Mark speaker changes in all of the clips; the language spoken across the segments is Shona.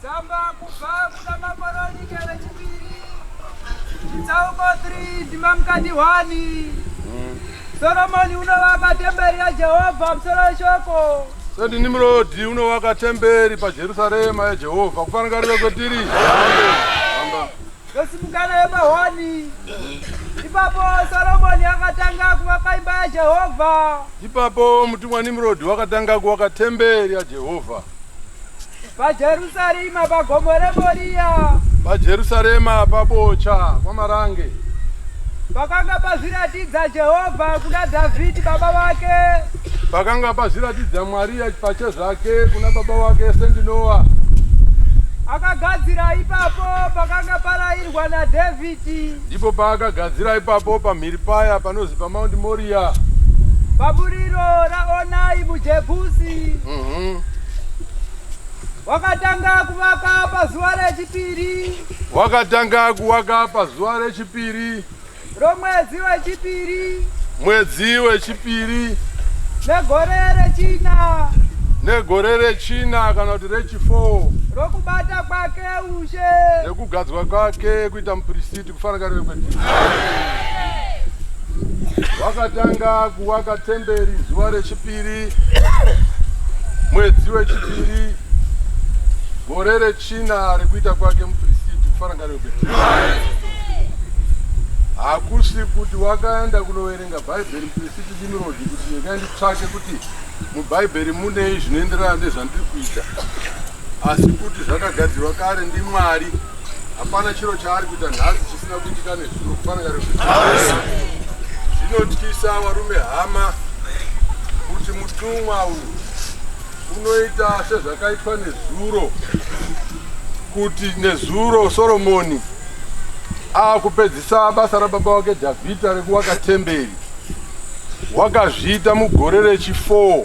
Speaker 1: Tsamba kubva kuna Makoronike vechipiri chitsauko 3 ndima mukati 1 Soromoni unovaka temberi yaJehovha musoro weshoko Sendi Nimrodi
Speaker 2: unovaka temberi paJerusarema yaJehovha kufangarira kwetiri ndosimukana
Speaker 1: yemahoni ipapo Soromoni akatanga kuvaka imba yaJehovha ipapo
Speaker 2: mutumwa Nimrodi wakatanga kuvaka temberi yaJehovha pajerusarema
Speaker 1: pagomo remoriya pajerusarema
Speaker 2: pabocha kwamarange
Speaker 1: pakanga pazviratidza jehovha kuna dhavhidhi baba vake pakanga
Speaker 2: pazviratidza mwari pachezvake kuna baba vake sendinowa akagadzira
Speaker 1: ipapo pakanga parayirwa nadhavhidhi ndipo paakagadzira
Speaker 2: ipapo pamhiri paya panozi pamaundi moriya paburiro
Speaker 1: raonai mujebhusi mhm. wakatanga kuvaka pazuva rechipiri wakatanga
Speaker 2: kuvaka pazuva rechipiri romwedzi
Speaker 1: wechipiri mwedzi
Speaker 2: wechipiri negore
Speaker 1: rechina negore
Speaker 2: rechina kana kuti rechifour rokubata
Speaker 1: kwake nekugadzwa
Speaker 2: kwake kuita mupirisiti kufanakariwe kwedu wakatanga kuvaka temberi zuva rechipiri mwedzi wechipiri gore rechina rekuita kwake mupirisiti kufanakariwe kwedu hakusi kuti wakaenda kunoverenga bhaibheri mupirisiti dimirodi kuti ndikaenditsvake kuti mubhaibheri munei zvinoenderana nezvandiri kuita asi kuti zvakagadzirwa kare ndimwari hapana chiro chaari kuita nhasi chisina kuitika nezuro kufanira zvinotyisa varume hama kuti mutumwa uyu unoita sezvakaitwa nezuro kuti nezuro soromoni akupedzisa basa rababa wake dhavhidha rekuvaka temberi wakazviita mugore rechi4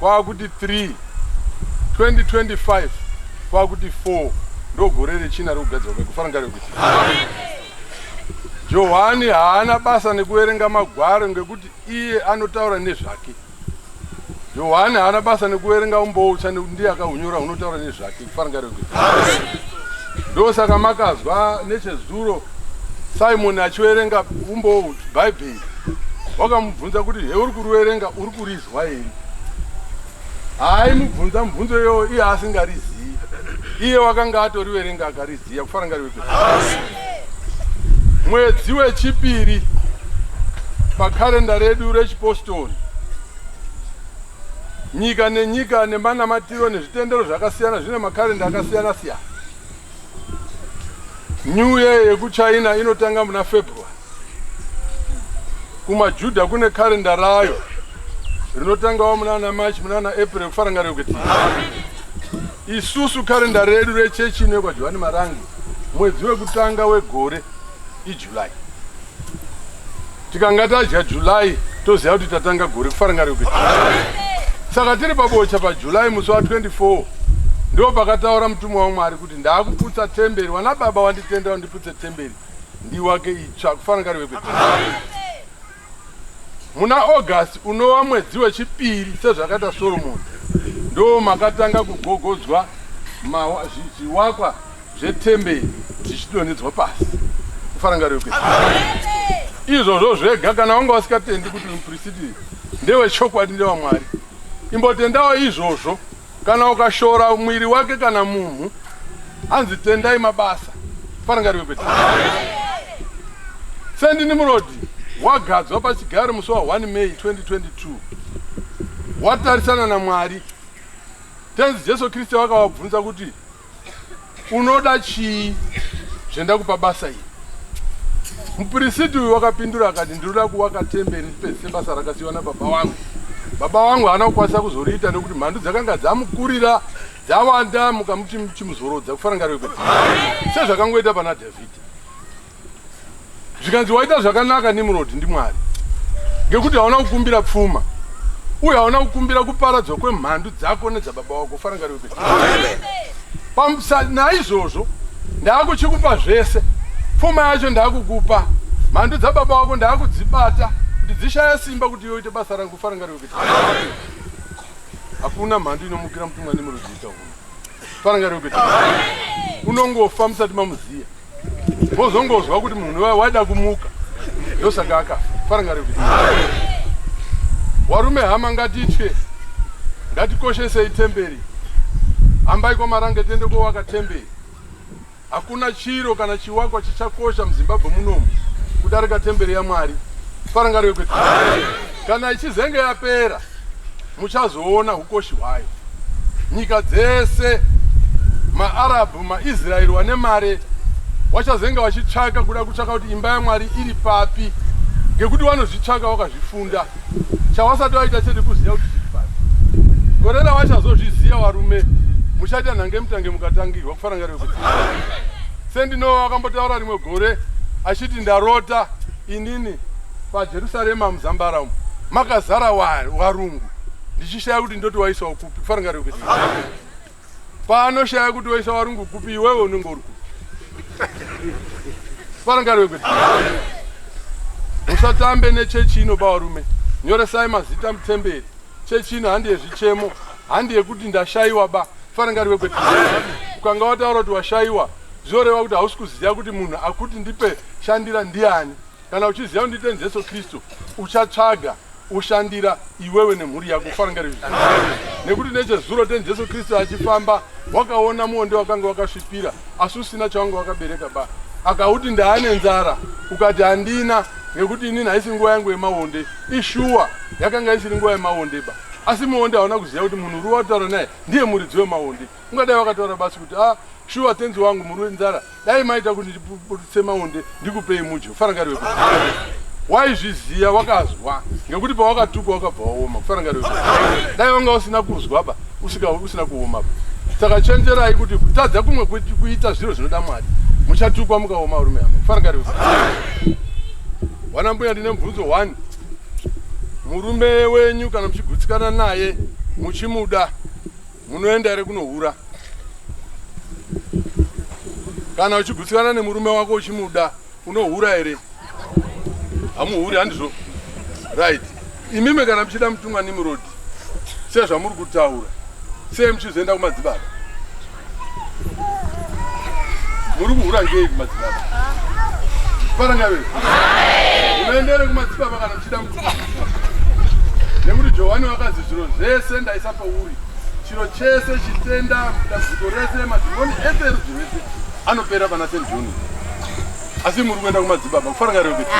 Speaker 2: kwakuti 3 2025 kwakuti 4 ndogore rechina rekugadzirwa kwekufana rekuti johani haana basa nekuverenga magwaro ngekuti iye anotaura nezvake johani haana basa nekuverenga umboutsva nekuti ndiye akahunyora hunotaura nezvake ndosaka makazwa nechezuro simoni achiverenga umbowo bhaibheri wakamubvunza kuti he uri kuriverenga uri kurizwa here haaimubvunza mubvunzo iyoyo iye asingarizivi iye wakanga atoriverenga akariziva kufana ngariweke mwedzi wechipiri pakarenda redu rechipostori Nyika nenyika nemanamatiro nezvitendero zvakasiyana zvine makarenda akasiyana siyana. New Year yekuChina inotanga muna February. KumaJuda kune karenda rayo rinotangawo munana March munana April kufaranga rekuti isusu karenda redu rechechi inekwa Johani Marangi mwedzi wekutanga wegore July. Tikanga tadya July toziva kuti tatanga gore kufarangariko. Saka tiri pabocha paJuly musi wa 24 ndo pakataura mutumwa waMwari kuti ndakuputsa temberi wana baba wanditenda wandiputse temberi ndiwake itsva kufarangariko. Muna August unova mwedzi wechipiri sezvakaita Solomoni ndoo makatanga kugogodzwa zviwakwa zvetemberi zvichidonhedzwa pasi kufarangariro kwe izvozvo zvega kana wanga wasikatendi kuti muprisiti ndewechokwadi ndewamwari imbotendawo izvozvo Kana ukashora mwiri wake kana munhu anzi tendai mabasa farangariwe kwete sendi nimurodi wagadzwa pachigaro musi wa 1 may 2022 watarisana namwari tenzi jesu kristu wakavabvunza kuti Unoda chii zvendakupa basa iri? Mupirisiti uyu wakapindura akati, ndinoda kuvaka temberi pese sebasa rakasiyiwa nababa wangu. Baba wangu haana kukwanisa kuzoriita nekuti mhandu dzakanga dzamukurira dzawanda mukamuti chimuzorodza kufanangarwe kuti sezvakangoita pana Dhavhidhi. zvikanzi waita zvakanaka nimrod ndimwari ngekuti hauna kukumbira pfuma uye hauna kukumbira kuparadzwa kwemhandu dzako nedzababa wako farangariro kuti pamusa naizvozvo ndaakuchikupa zvese pfuma yacho ndaakukupa mhandu dzababa wako ndaakudzibata kuti dzishaya simba kuti yoite basa rangu farangariro kuti hakuna mhandu inomukira mutumwa nemurudzi ita uno farangariro kuti unongofa musati mamuziya Wozongozwa kuti munhu waida kumuka ndosaka akafa farangari kuti warume hama ngatitye ngatikoshesei temberi hambai kwamarange tiende kowaka temberi hakuna chiro kana chiwakwa chichakosha muzimbabwe munomu kudarika temberi yamwari farangari kuti kana ichizenge yapera muchazoona hukoshi hwayo nyika dzese maarabhu maisraeri wane mare wachazenge vachitsvaka kuda kutsvaka kuti imba yamwari iri papi ngekuti vanozvitsvaka wakazvifunda chawasati waita chete kuziva kuti zviri papi gore ravachazozviziva varume muchaita nhange mutange mukatangirwa kufarangarira kuti sendinova akambotaura rimwe gore achiti ndarota inini PaJerusarema muzambara umu makazara warungu ndichishaya kuti ndoti waisawo kupi kufanira kuti paanoshaya kuti waisa warungu kupi iwewe unenge uri kupi kufanira kuti musatambe nechechi ino bavarume nyoresai mazita mutemberi chechi ino handi yezvichemo handi yekuti ndashaiwa ba kufanira kuti ukanga wataura kuti washaiwa zvinoreva kuti hausi kuziva kuti munhu akuti ndipe shandira ndiani Kana uchiziva kuti ndite Jesu Kristu, uchatsvaga ushandira iwewe nemhuri yako kufarangari izvi nekuti nechezuro ten jesu kristu achifamba wakaona muonde wakanga wakasvipira asi usina chawanga wakabereka ba akauti ndaane nzara ukati handina nekuti inini haisi nguva yangu yemaonde ishuwa yakanga isiri nguva yemaonde ba asi muonde hauna kuziva kuti munhu uri wataura naye ndiye muridzi wemaonde ungadai wakataura basi kuti a ah, shuwa tenzi wangu muri wenzara dai maita kuti ndiputse maonde ndikupei mudyo farangari weku waizviziva wakazwa ngekuti pawakatukwa wakabva waoma kufarangari weku dai wanga usina kuzwa ba usika usina kuoma ba saka chenjerai kuti kutadza kumwe kuita zviro zvinoda mwari muchatukwa mukaoma rume hama kufarangari weku wana mbuya ndine mubvunzo one murume wenyu kana muchigutsikana naye muchimuda Munoenda here kunohura? Kana uchigutsikana nemurume wako uchimuda unohura here? Hamuhuri handizvo? Right. Imimi kana muchida mutumwa Nimrod sezvamuri kutaura sei muchizoenda kumadzibaba? Muri kuhura ngei kumadzibaba? Parangave. Unoendere kumadzibaba kana muchida nekuti johani vakazi zviro zvese ndaisa pauri chiro chese chitenda dambudziko rese madhimoni ese erudzi rwese anopera pana st john asi muri kuenda kumadzibaba kufaranga reo kuti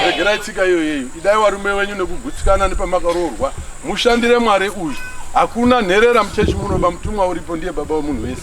Speaker 2: regerai tsika iyoyeyo idai warume wenyu nekugutsikana nepamakaroorwa mushandire mwari uyu hakuna nherera muchechi munoba mutumwa uripo ndiye baba wemunhu wese